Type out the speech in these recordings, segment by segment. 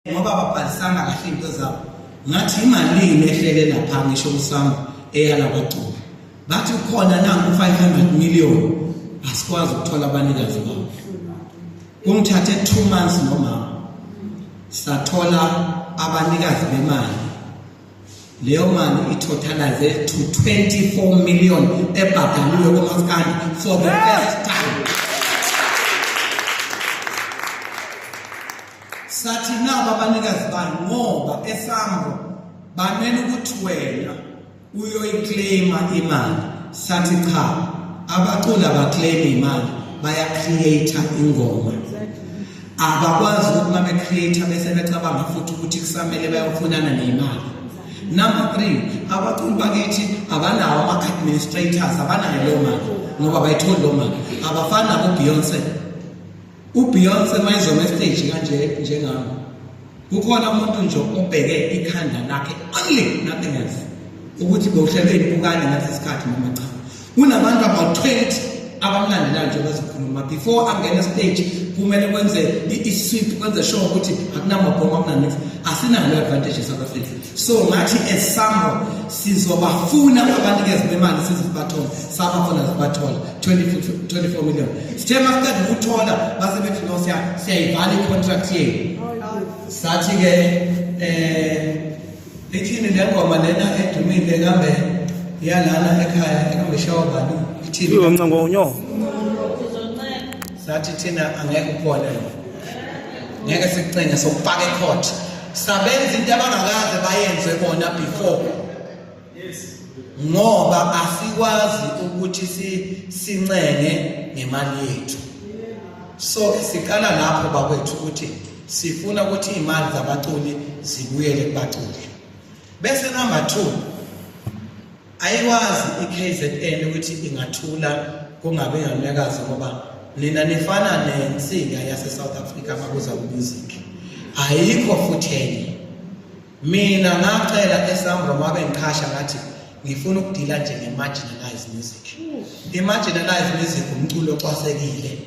ngoba babhalisanga kahle into zabo ngathi imalini ehlele lapha ngisho usama eyala kwagcula bathi ukhona nangu 500 million asikwazi ukuthola abanikazi babo kungithathe 2 months nomama sathola abanikazi bemali leyo mali itotalize to 24 million ebhadaliwe komaskandi for the first time sathi naba abanikazi bani ngoba esambo bamele ukuthi wena uyoyiclaima imali sathi cha abaculi abaclaim imali bayacreate ingoma abakwazi ukuthi uma be-create bese becabanga futhi ukuthi kusamele bayofunana neyimali number three abaculi bakithi abanawo ama-administrators abanayo leyo mali ngoba bayitholi loo mali abafani nabobeyonce ubeyonce uma izoma esiteji kanje njengami kukhona umuntu nje obheke ikhanda lakhe only nothing else ukuthi bowuhlelweni bukane ngase sikhathi noma cha kunabantu about 20 abamlandelayo nje bazikhuluma before angena stage kumele kwenze i-sweep kwenze sure ukuthi akunamabhomu akunanix asinalo advantage eSouth Africa so ngathi esambo sizobafuna abanikezi bemali sizibathola sabafuna zibathola 24 million sithe masiqeda ukuthola base bethi no siya siyayivala icontract yenu sathi ke eh ithini le ngoma lena edumile kambe yalana ekhaya ekungishawa bani ithini uncengo unyo sathi thina angeke ukhona ngeke sikucenge sokupaka ecourt sabenza into abangakaze bayenze bona before ngoba asikwazi ukuthi sincenge ngemali yethu so siqala lapho bakwethu ukuthi sifuna ukuthi imali zabaculi zibuyele kubaculi bese number 2 ayikwazi iKZN ukuthi ingathula kungabe ngamnyakazi ngoba nina nifana nensinga yaseSouth Africa makuza kuMusic ayikho futhi enye mina ngacela esambro mabe ngiqhasha ngathi ngifuna ukudila nje nge-marginalized music i-marginalized music umculo ocwasekile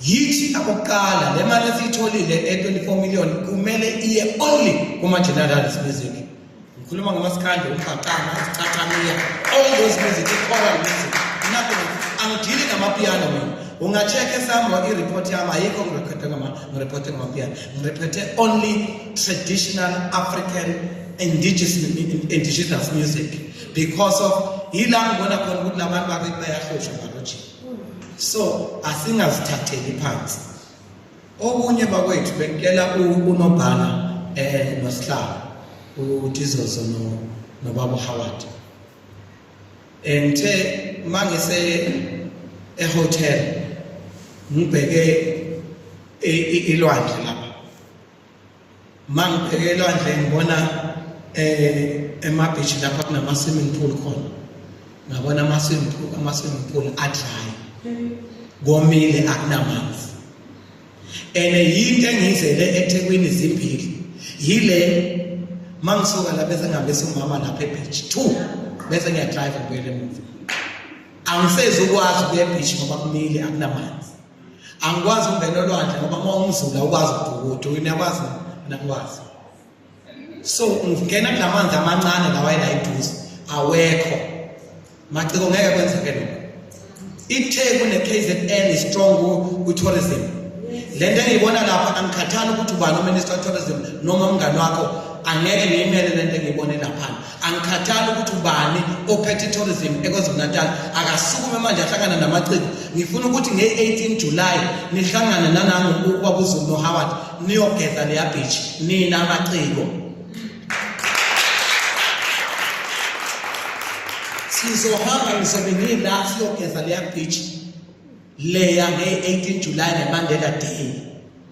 yithi akuqala le mali esiyitholile e-24 million kumele iye only kuma-generals music ngikhuluma ngomasikhandle uqaqana isicacamiya all those music i-choral music nothing angidili ngamapiyano mina unga-check-e sami i-report yami ayikho ngirekhode ngirekhode ngamapiyano ngirekhode only traditional african indigenous, indigenous music because of yila ngibona khona ukuthi la bantu bayahlosha ngalojini so asingazithatheli phansi okunye bakwethu bengicela unobhala eh nosihlalo uDizozo no nobaba Howard engithe mangise ehotel ngibheke ilwandle lapha mangibheke elwandle ngibona eh emabeach lapha kunama swimming pool khona ngabona ama swimming pool ama swimming pool adry komile akunamanzi ene yinto engiyizele eThekwini zimbili yile mangisuka la bese ngihambisa umama lapha ebeach 2 bese ngiyadrive ngibuyele emuva angisezukwazi ukuya ebeach ngoba kumile akunamanzi angikwazi ukungena olwandle ngoba uma umzula ukwazi ukubhukuda uyakwazi mina ngikwazi so ngingena kulamanzi amancane lawa ela eduze awekho maciko ngeke kwenzeke lokho itheku ne-kzn strong kwi-tourism le nto engiyibona lapha angikhathali ukuthi ubani uminister of tourism noma umngani wakho angeke ngiyimele le nto engiyibone laphana angikhathali ukuthi ubani ophethe tourism eKwaZulu-Natal akasukume manje ahlangana namaciko ngifuna ukuthi nge-18 July nihlangane nanangu ukwabuzulu noHoward niyogeza leya beach nina amaciko sizohamba ngizobe ngila siyogeza leya beach leya nge-18 July neMandela Day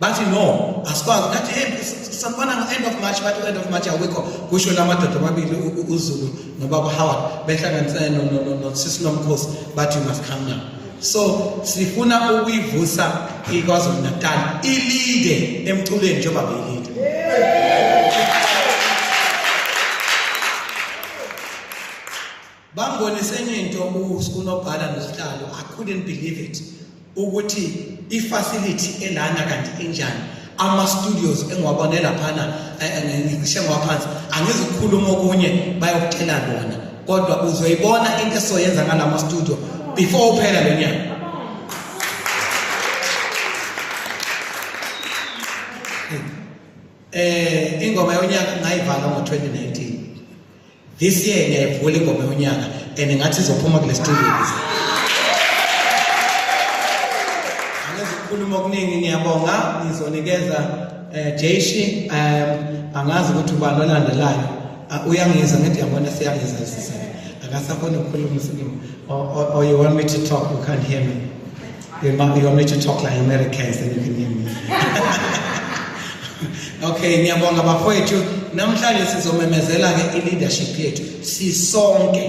bathi no asikwazi ngathi hey sanibona ngo-end of march bathi u-end of march awikho kusho la madoda amabili uzulu nobaba howard behlanganisene nosisi nomkhosi bathi you must come now so sifuna ukuyivusa ikwazulu natal ilide emculweni njengoba beyilide yeah. Bambonisa enye into unobhala nosihlalo I couldn't believe it ukuthi ifacility elana kanti enjani ama studios engiwabone laphana eh, eh, ngishe ngwaphansi angizukhuluma okunye bayokutshela lona kodwa uzoyibona into esoyenza ngalama studio before uphela lo nyaka eh ingoma yonyaka ngayivala ngo 2019 This year ngiyayivula ingoma yonyaka and ngathi izophuma kule studio kuze. Angazi ukukhuluma okuningi ngiyabonga ngizonikeza eh Jayshi um angazi ukuthi ubani olandelayo ah, uyangiza ngithi yabona siyangiza sisana akasakhona ukukhuluma usikimu or, or, or you want me to talk you can't hear me You want, you want me to talk like Americans, then you can hear me. okay, ngiyabonga bafowethu. Namhlanje sizomemezela ke i-leadership yethu sisonke.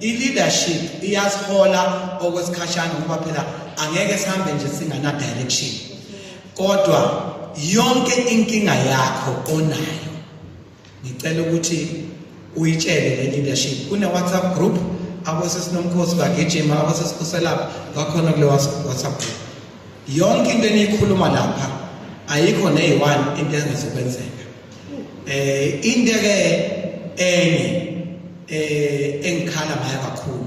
I-leadership iyasihola okwesikhashana ngoba phela angeke sihambe nje singana direction. Kodwa yonke inkinga yakho onayo ngicela ukuthi uyitshele le leadership kune WhatsApp group abosesinomkhosi bagijima abosesikhuselayo bakhona kule WhatsApp group yonke into eniyikhuluma lapha ayikho neyi-one into engezokwenzeka eh into ke enye eh engikhala ngayo kakhulu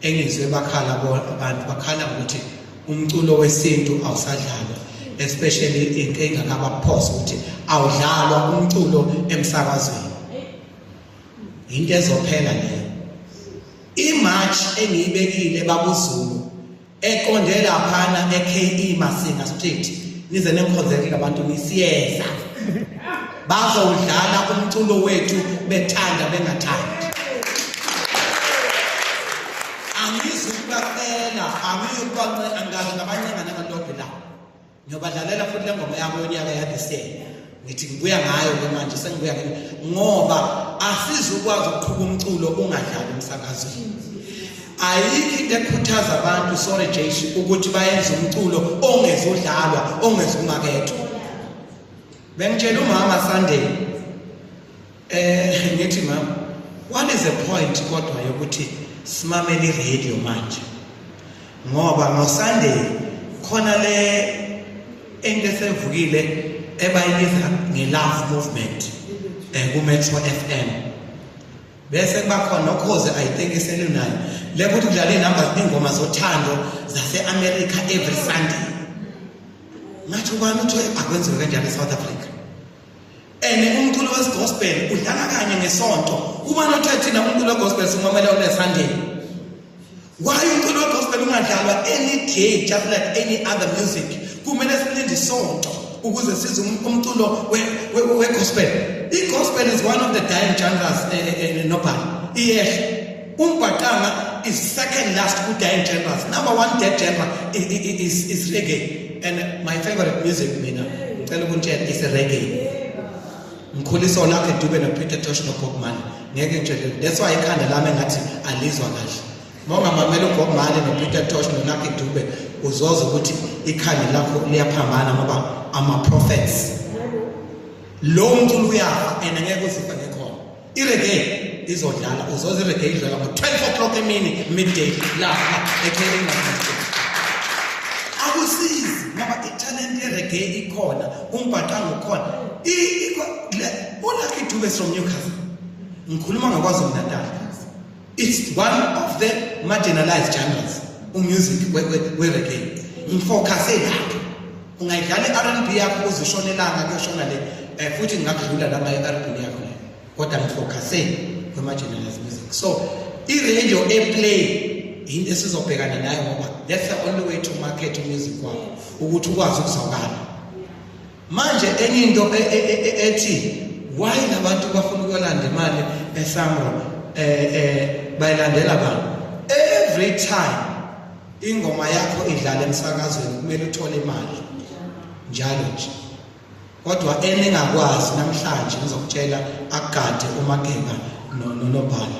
engizwe bakhala abantu bakhala ukuthi umculo wesintu awusadlalwa especially into engakabaphosa ukuthi awudlalwa umculo emsakazweni into ezophela leyo imarch engiyibekile bakuzulu eqonde laphana eKE Masinga Street nize nengikhonzekile abantu nisiyeza bazowudlala umculo wethu bethanda bengathandi angizukubacela angiyukubangazi ngabancengane amadodwe la ngiyobadlalela futhi le ngoma yami yonyaka yadisele ngithi ngibuya ngayo ke manje sengibuya ke ngoba asizukwazi ukuqhuba umculo ungadlali emsakazweni ayikho into ekhuthaza abantu sorry Jesu ukuthi bayenze umculo ongezudlalwa ongezumakethwa Bengitshela umama Sunday eh ngithi mama what is the point kodwa yokuthi simamele radio manje ngoba ngo Sunday khona le into esevukile ebayibiza nge love movement eh ku Metro FM bese kuba khona okhoze i think iselunayo lekuthi kudlala inamba zingoma zothando zase America every Sunday Nacho ubani uthe akwenziwe kanjani eSouth Africa? Ene umculo wesigospel udlala kanye ngesonto. Ubani othe thina umculo wegospel simamela on Sunday? Why umculo wegospel ungadlalwa any day just like any other music? Kumele silinde isonto ukuze size um-, umculo wegospel. Igospel is one of the dying genres eh, eh, eh, nobani. Iyehla. Umbhaqanga is second last ku dance genres. Number one dance genre is is reggae and my favorite music mina ngicela ukuntshela is reggae. Ngikhuliswa lakhe Dube no Peter Tosh no Bob Marley. Ngeke ngitshele. That's why ikhanda lami ngathi alizwa kahle. Mongamamela uBob Marley no Peter Tosh no Lucky Dube uzoza ukuthi ikhanda lakho liyaphambana ngoba ama prophets. Lo mculo uyafa and ngeke uzifa ngekho. ireggae izodlala uzoze ireggae idlala ngo-12 o'clock emini midday lapha ekheringa akusizi ngoba italente yereggae ikhona umbhaqanga ukhona ulakidube from newcastle ngikhuluma ngakwazi umnatala it's one of the marginalized genres umusic wereggae ngifocuse lapho ungayidlala i-rnb yakho uzishona elanga kuyoshona le um futhi ngingakudlula lama i-rnb yakho le kodwa ngifocuse kwi-marginalized music so i-radio eplay yinto esizobhekana nayo ngoba that's the only way to market umusic wakho ukuthi ukwazi ukuzwakala manje enye into e, e, e, ethi why labantu bafuna ukuyolanda imali esamro eh eh bayilandela bani every time ingoma yakho idlala emsakazweni kumele uthole imali njalo nje kodwa eningakwazi namhlanje ngizokutshela akugade umagenga nonobhala